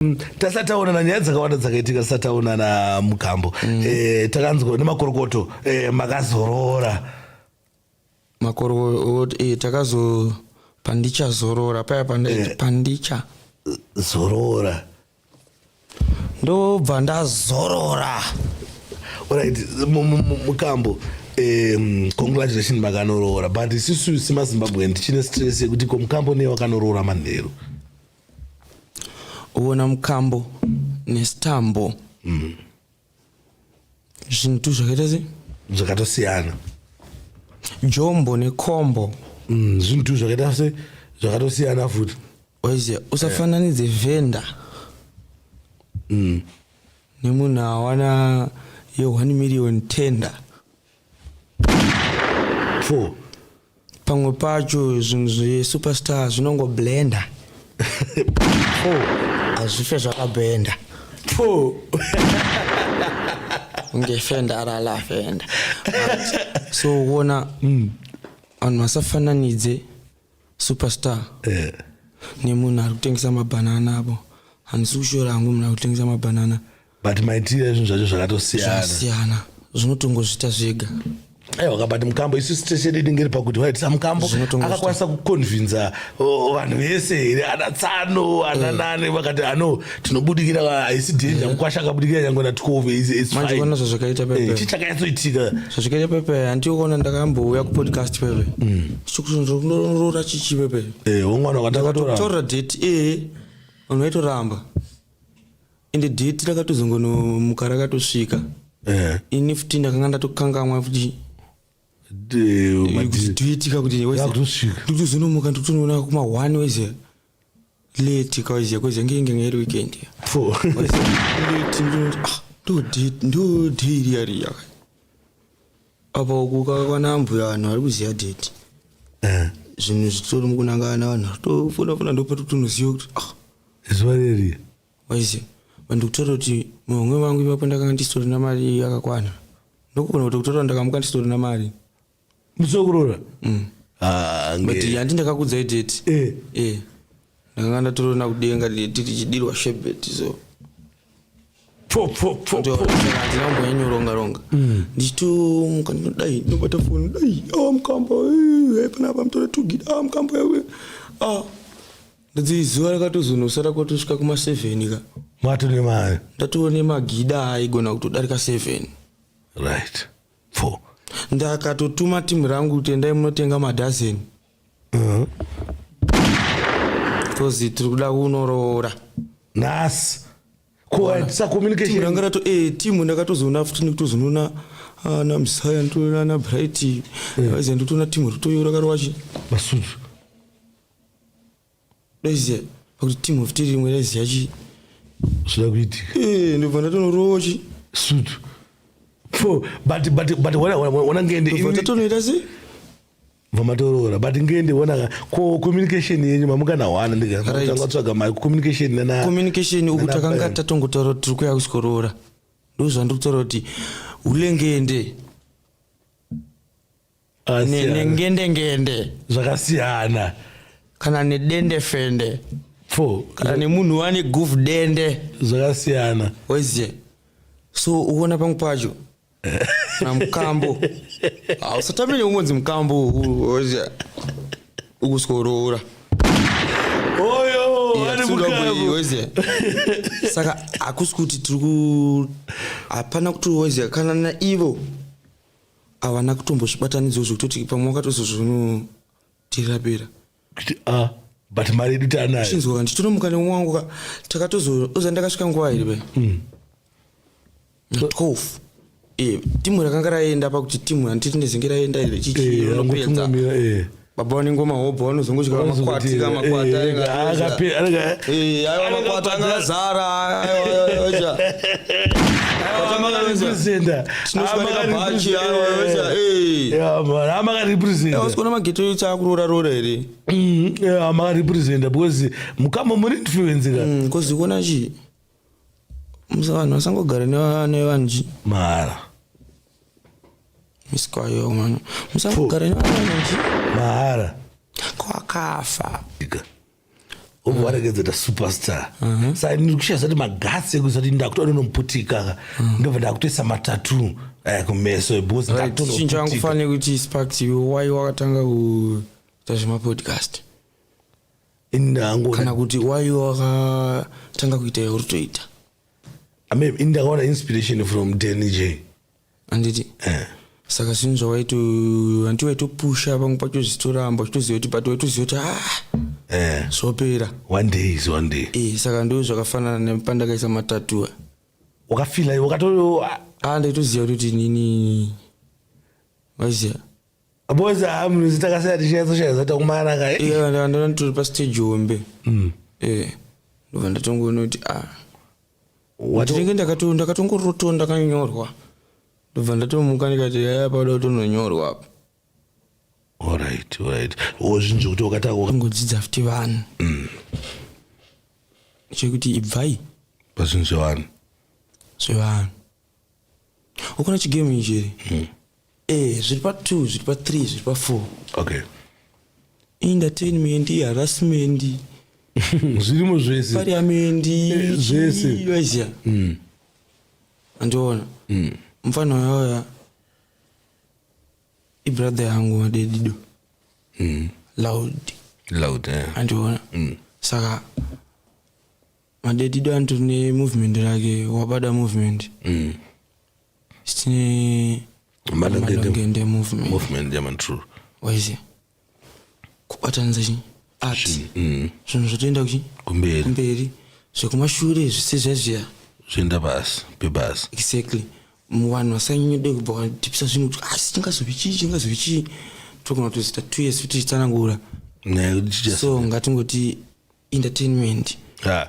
Mm, tasati taonana nyaya dzakawanda dzakaitika tisati taonana mugambo mm. e, takanzwa nemakorokoto e, makazorora makorokoto e, takazo pandicha zorora paya pandicha e, zorora ndobva ndazorora orit mukambo um, congratulation makanoroora but isisu semazimbabwe ndichine stress yekuti komukambo neye wakanoroora manheru uona mukambo nesitambo mm. zvintu zvakaita se zvakatosiyana jombo nekombo mm, zvintu zvakaita se zvakatosiyana futi oiziva usafananidze yeah. venda mm. nemunhu awana ye 1 million tender Four. pamwe pacho zvinhu zvesuperstar zvinongoblenda Four. hazvife zvakabhenda Four. kunge fenda arala fenda so uona vanhu vasafananidze superstar eh. nemunhu ari kutengesa mabhanana apo handisi kushora hangu munhu ari kutengesa mabhanana but maitiro ezvinhu zvacho zvakatosiyanasiyana zvinotongozvita zvega aiwa kabati mukambo isu station inenge iri pakuti waiti samukambo akakwanisa kukonvinza vanhu vese here ana tsano ana eh. nani vakati ano tinobudikira haisi dhenja eh. mukwasha akabudikira nyange na twove imanjeona zvazvakaita pepe eh, chichakanyatsoitika zvazvakaita pepe handiokuona ndakambouya kupodcast pepe mm. chikuroora chichive pe eh womwana wakataura taura date eh unoito ramba ende date rakatozongono mukara katosvika eh ini futi ndakanga ndatokangamwa futi de eh, madzi tuitika kuti wese ndikuzonomuka ndikutonoona kuma 1 wese late cause yakozi yange inge ngeri weekend ndodhiri yari yaka apa kukakwana mbuya vanhu vari kuziva date eh. zvinhu zvitori mukunangana vanhu tofona fona ndopatotonoziva kuti ah. zuva reri waize vanhu kutora kuti muhomwe vangu ipapo ndakanga ndisitorina mari yakakwana ndokugona kuti kutora ndakamuka ndisitorina mari musi wekurora mm. ah, but handi ndakakudzai date eh. eh. ndakanga ndatorona kudenga tichidirwa shebet so handina kumboyanyoronga ronga mm. ndichitomuka ndinodai ndinobata foni dai a ah, mukamba eh, eh, panapa mtore tugida a ah, mukamba yawe a ndadzi zuva rakatozonosara kwatosvika kuma seven ka matone mari ndatoone magida aigona kutodarika seven right pfo ndakatotuma team rangu kuti endai munotenga madhazeni uh-huh. coz tiri kuda kunoroora nhasi kuatisacommunicationrangarato e eh, team ndakatozoona futi nekutozonoona ana ah, msaya ndotoona ana bright eh. aiza ndotoona team ritoyora karowachi masuzu Doziya pakuti team of tiri rimwe raiziya chii zvida kuitika eh, ndobva ndatonorowo chi sutu for but but but wana wana ngende ndobva tatonoita sei vamatoroora but ngende wona ko communication yenyu mamukanawana ndikatanga tsvaga mai communication nana communication uku takanga tatongotaura tiri kuya kusikoroora ndozvandiri kutaura kuti ulengende nenengendengende zvakasiyana kana nedendefende fo kana nemunhu wane guf dende zvakasiyana wezie so uona pangu pacho na mukambo hausatame neungonzi mukambo wezie ukusworoora oyowezie saka hakusi kuti tiri ku hapana kuti wezie kana naivo havana kutombozvibatanidzwa zvekutoti pamwe wakatozozvinotirapira kuti a ah, but mari yedu taanayo chinzwa nditonomuka nemwe wangu ka takatozoza ndakasvika nguva here be mm. twelve eh, timu rakanga raenda pakuti timu handiti ndezenge raenda here chichiironokuedza eh, baba vane ngoma hobho vanozongotyira makwati ka makwati aiwa makwati anga azara amakaripresentasikona mageto yo chaakuroora roora here mm, amakaripresenta because mukama muri influence ka mm, because ikona chii musa vanhu vasangogara nevanji mahara misikwayo mwana musangogara nevanji mahara kwakafa obva waregedza ta superstar uh-huh. sa ndiri kushaya zati magasi ekuisa kuti ndakutoa ndonomuputika ka uh-huh. ndobva ndakutoisa matatu eh, kumeso because ndatochinchinjo yangu fanire kuti sparks why wakatanga kuita zvemapodcast ini ndakangoona kana kuti waive wakatanga kuita yauri toita amem ini ndakaona inspiration from dany j anditi eh. saka zvinhu zvawaito hanti waitopusha pamwe pacho zvitoramba uchitoziva kuti but waitoziva kuti ah eh. zvopera one day is one day eh, saka ndo zvakafanana nepandakaisa matatuwa wakafila wakato ah, ndaitoziva kuti nini waziva boys amunozi takasaya tichinyatsoshaiza takumana ka ndandona tiri pastage hombe mm. eh, ndobva ndatongoona kuti a ah. ndinenge ndakatongoroto ndakanyorwa ndobva ndatomuka ndikati yaya pakuda kutononyorwa apa orit orit ozvinzvi kuti wakatakangodzidza futi vanhu mm. chekuti ibvai pazvinhu zvevanhu zvevanhu ukona chigame ichi here mm. Eh, zviri pa 2, zviri pa 3, zviri pa 4. Okay. Entertainment, harassment. Zvirimo zvese. Parliament, eh, zvese. Yosia. Mm. Andiona. Mm. Mfano yoya. I brother yangu wa dedido. Mm. Loud. Loud, eh. Andiona. Mm. Saka madedido anotori nemovement rake wabada movement mm. sitine malongende movement movement yaman true waize kubatanidza chi art mm. zvinhu zvotoenda kuchi kumberi kumberi zvekumashure zvisi zvezviya zvoenda pasi pebasi exactly vanhu vasanyanyode kubva vatipisa zvinhu kuti asi ah, chingazovi chii chingazovi chii togona kutozita two years kuti titsanangura so ngatingoti entertainment yeah.